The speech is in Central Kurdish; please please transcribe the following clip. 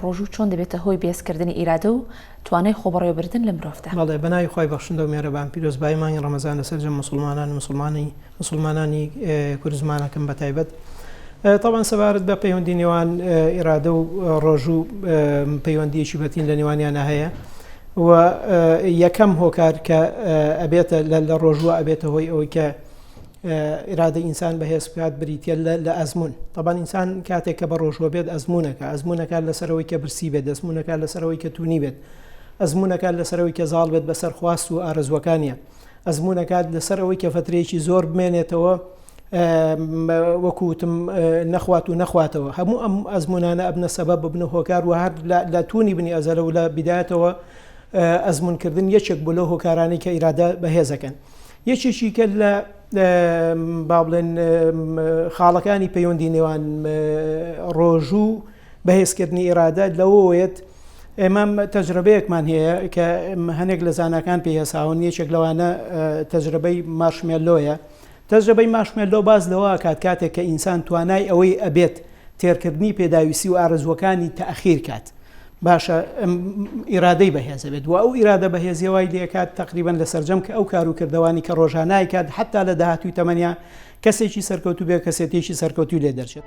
ڕۆژوو چۆن دەبێتە هۆی بێزکردنی ئیرادە و توانای خۆبەڕێوەبردن لە مرۆڤدا؟ بەڵێ بە ناوی خوای بەخشندە و مێرەبان پیرۆزبایی مانگی ڕەمەزان لە سەرجەم موسڵمانان موسڵمانی موسڵمانانی کورد زمانەکەم بە تایبەت تەبەن سەبارەت بە پەیوەندی نێوان ئیرادە و ڕۆژوو پەیوەندیەکی بەتین لە نێوانیانە هەیە و یەکەم هۆکار کە ئەبێتە لە ڕۆژوە ئەبێتە هۆی ئەوەی کە ئیرادەی ئینسان بەهێز بکات بریتیە لە ئەزموون تەبان ئینسان کاتێک کە بە ڕۆژوە بێت ئەزمونونەکە ئەزمونونەکە لەسەرەوەی کە برسی بێت دەستمونونەکە لەسەرەوەی کە تونی بێت ئەزمونونەکە لەسەرەوەی کە زاڵ بێت بەسەر خواست و ئارزوەکانە ئەزمونونەکات لەسەر ئەوەی کە فترێکی زۆر بمێنێتەوە وەکوتم نەخوات و نەخواتەوە هەموو ئەم ئەزمونانە ئەبنە سەبە ببنە هۆکار و هەر لە تونی بنی ئەزەلە و لە بدایەتەوە ئەزمونکردن یەکێک بۆ لە هۆکارانی کە ئیرادە بەهێزەکەن. یەکێکی کە لە با بڵێن خاڵەکانی پەیوەندی نێوان ڕۆژوو بەهێزکردنی ئێرادە لەوەیەت ئێمە تەجربەیەکمان هەیە کە هەنێک لە زانکان پێ هەساون یەکێک لەوانە تەجربەی مارشمێلۆیە تەجربەی ماشمێلۆ باز لەوە کات کاتێک کە ئینسان توانای ئەوەی ئەبێت تێرکردنی پێداویستی و ئارزوەکانی تاخیر کات باشە ئەم ئیرادەی بەهێزە بێت و ئەو ئیرادە بەهێزیە وای لێکات تەقریبەن لە سەررجەم کە ئەو کار و کردوانی کە ڕۆژانای کات حتا لە داهاتوی تەمەنیا کەسێکی سەرکەوتو بێ کەسێتێکی سەرکەوتوی لێ دەرچێت.